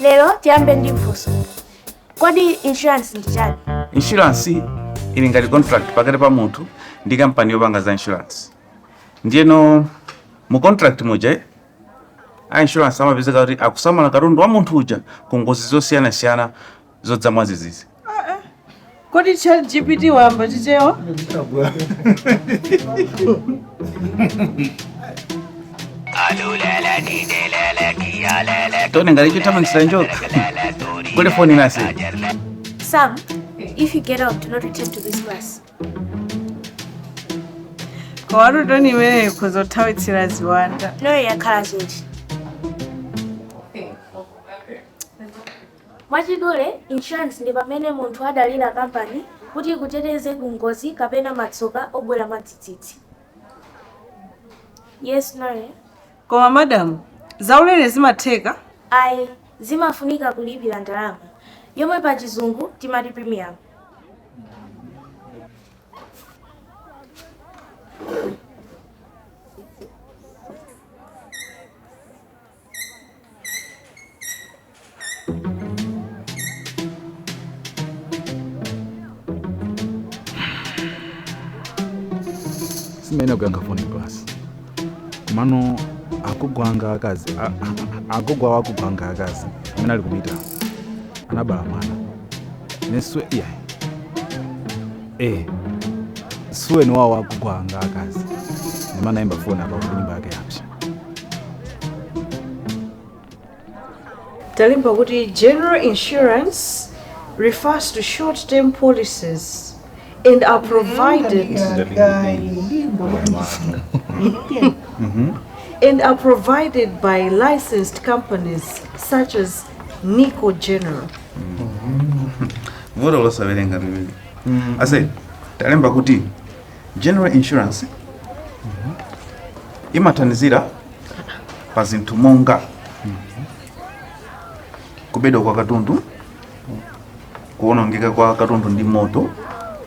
lero tiyambe ndi funso kodi insurance ndi chani inshuransi ili ngati contract pakati pa munthu ndi kampani yopanga za inshuransi ndiyeno mu contract muja a insurance amapezeka kuti akusamala katundu wa munthu uja ku ngozi zosiyanasiyana zodza mwadzidzidzi kodi chat gpt wayamba chichewa toni ngati chothamangitsira njoka kuli foni in class Sam, if you get out, do not return to this class. kwathutu toni imeneyo nkuthawitsira ziwanda Noe wakhala chete. Mwachidule, insurance ndi pamene munthu amadalira kampani kuti ikuteteze ku ngozi kapena matsoka obwera mwadzidzidzi. Yes, Noe. koma madamu zaulere zimatheka Ayi, zimafunika kulipira ndalama yomwe pa chizungu timati premium. Sam eee kuyankha foni m'class komano agogo anga akazi agogo awo agogo anga akazi amene ali kumita anabala mwana neswe iya eh suweni wawo agugwa nga akazi ndimanayimba foni apa kuti nyumba yake yapsa talemba kuti general insurance refers to short term policies and are provided and are provided by licensed companies such as nico general vuto losawerenga limeneli ase talemba kuti general insurance imathandizira pa zinthu monga kubedwa kwa katundu kuonongeka kwa katundu ndi moto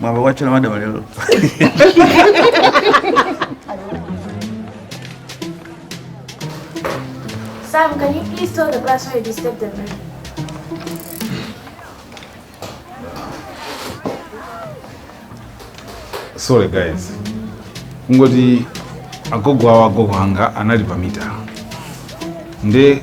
mwayamba kutchola madam lero Sam, can you please tell the class why you disturbed them? sorry guys kungoti agogo awo agogo anga anali pamita nde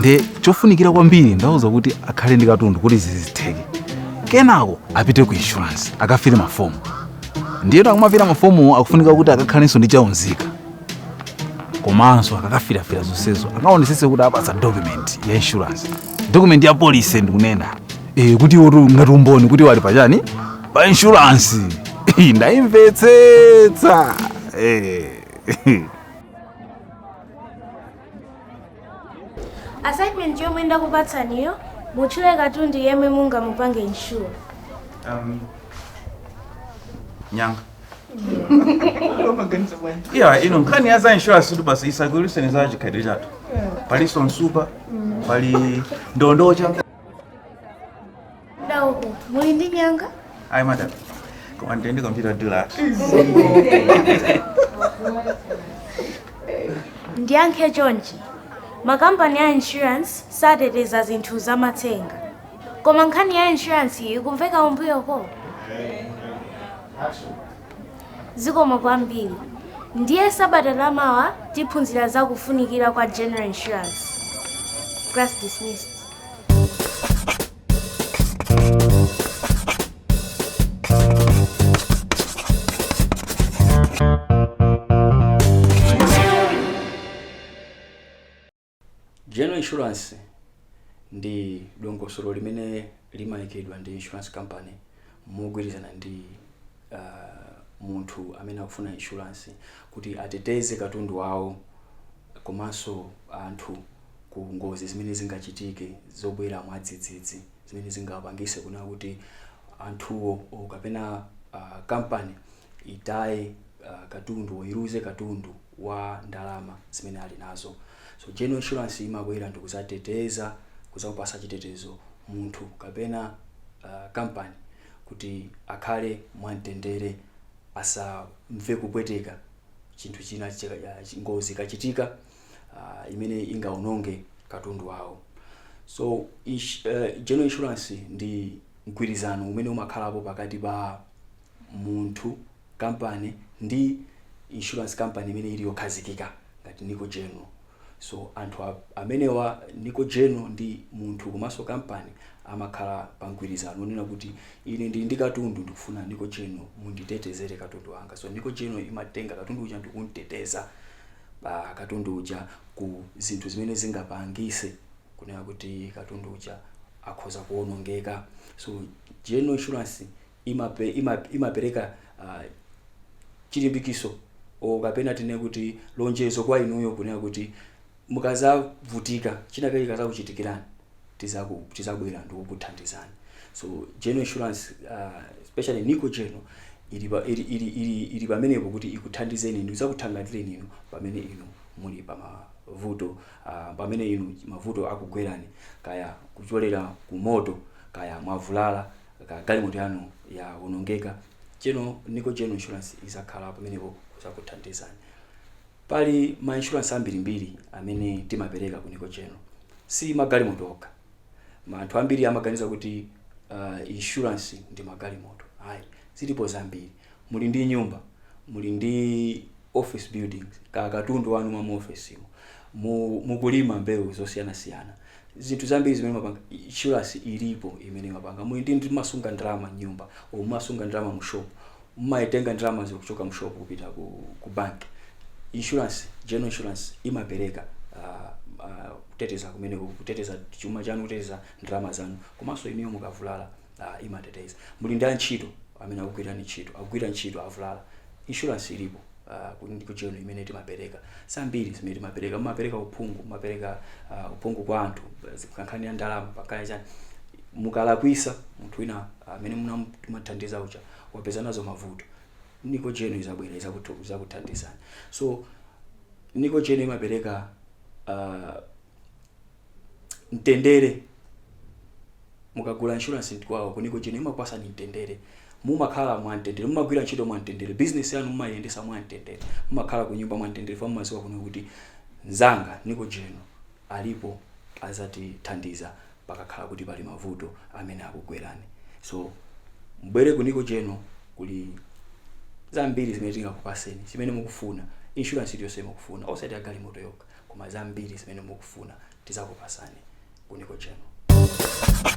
nde chofunikira kwambiri ndauza kuti akhale ndi katundu kuti zizitheke kenako apite ku insurance akafile mafomu ndiyeno akumafira mafomuwo akufunika kuti akakhalenso ndi cha unzika komanso akakafirafira zonsezo akaonesese kuti awapatsa document ya insurance document ya polisi ndikunena e, kuti iwotu ngati umboni kuti iwo ali pachani pa insurance Eh, ndaimvetsetsa Eh. assignment yomwe ndakupatsaniyo mutchule katundu yemwe mungamupange insure Um, nyanga yeah inu nkhani ya za insurance kuti basi isagwiriseni za chikhalidwe chathu palinso nsupa pali ndondocha Dauko, muli ndi nyanga? Ayi madam. Koma ndinedi computer dealer. Ndiyankhe chonchi. Makampani a insurance sateteza zinthu za matsenga. Koma nkhani ya insurance iyi ikumveka umbuyoko. Zikomo kwambiri. Ndiye sabata lamawa tiphunzira za kufunikira kwa general insurance. Class dismissed. General insurance ndi dongosolo limene limayikidwa ndi insurance company mogwirizana ndi uh, munthu amene akufuna insurance kuti ateteze katundu wawo komanso anthu ku ngozi zimene zingachitike zobwera mwadzidzidzi zimene zingapangise kunena kuti anthuwo kapena uh, kampani itaye uh, katundu iluze katundu wa ndalama zimene ali nazo. So general insurance imabwera ndikudzateteza, kudzamupatsa chitetezo munthu kapena kampani kuti akhale mwamtendere, asamve kupweteka chinthu china, ngozi ikachitika imene ingawononge katundu wawo. So general insurance ndi mgwirizano umene umakhalapo pakati pa munthu. company ndi insurance company imene ili yokhazikika ngati Nico General so anthu amenewa Nico General ndi munthu komanso company amakhala pa mgwirizano onena kuti ine ndili ndi katundu ndikufuna Nico General munditetezere katundu wanga so Nico General imatenga katundu uja ndikumteteza katundu uja ku zinthu zimene zingapangise kunena kuti katundu uja akhoza kuonongeka so General Insurance imape, imap, imapereka uh, chilimbikitso o kapena tinene kuti lonjezo kwa inuyo kunena kuti mukazavutika china chake chikazakuchitikirani tizaku tizabwera ndikukuthandizani so general insurance uh, especially nico general ili pa- ili ili ili, ili pamenepo kuti ikuthandizeni ndi kuzakuthangatireni inu pamene inu muli pa mavuto uh, pamene inu mavuto akugwerani kaya kuchokera ku moto kaya mwavulala ka galimoto yanu yawonongeka general nico general insurance izakhala pamenepo kuzakuthandizani pali ma insurance ambirimbiri amene timapereka ku nico general si magalimoto okha Ma- anthu ambiri amaganiza kuti uh, insurance ndi magalimoto ayi zilipo zambiri Muli ndi nyumba, muli ndi office buildings, ka katundu wanu wa mu office mo, mu mukulima mbewu zosiyana siyana, zinthu zambiri zimene mumapanga, insurance ilipo imene imapanga, muli ndi mumasunga ndalama m'nyumba, or mumasunga ndalama mu shop, mumaitenga ndalamazo kuchoka mu shop kupita ku ku bank, insurance, general insurance imapereka kuteteza kumeneko, kuteteza chuma chanu, kuteteza ndalama zanu, komanso inuyo mukavulala. Ah, imateteza. Muli ndi antchito amene akugwirani ntchito, akugwira ntchito, avulala. Insurance ilipo ah, ku- Nico General imene timapereka. Zambiri zimene timapereka, mumapereka uphungu, mumapereka ah, uphungu kwa anthu, ku nkhani ya ndalama, pakaya chani. Mukalakwisa munthu wina amene mumamuthandiza uja wapeza nazo mavuto. Nico General izabwera izakutu- izakuthandizani. So Nico General imapereka ah, mtendere mukagula insurance kwawo ku nico general imakupasani mtendere mumakhala mwa mtendere mumagwira ntchito mwa mtendere business yanu mumayendesa mwa mtendere mumakhala ku nyumba mwa mtendere chifukwa mumaziwa kunena kuti nzanga nico general alipo azatithandiza pakakhala kuti pali mavuto amene akugwerani so mubwere ku nico general kuli zambiri zimene tingakupaseni zimene mukufuna insurance iliyonse mukufuna osati ya galimoto yokha koma zambiri zimene mukufuna tizakupasani ku Nico General.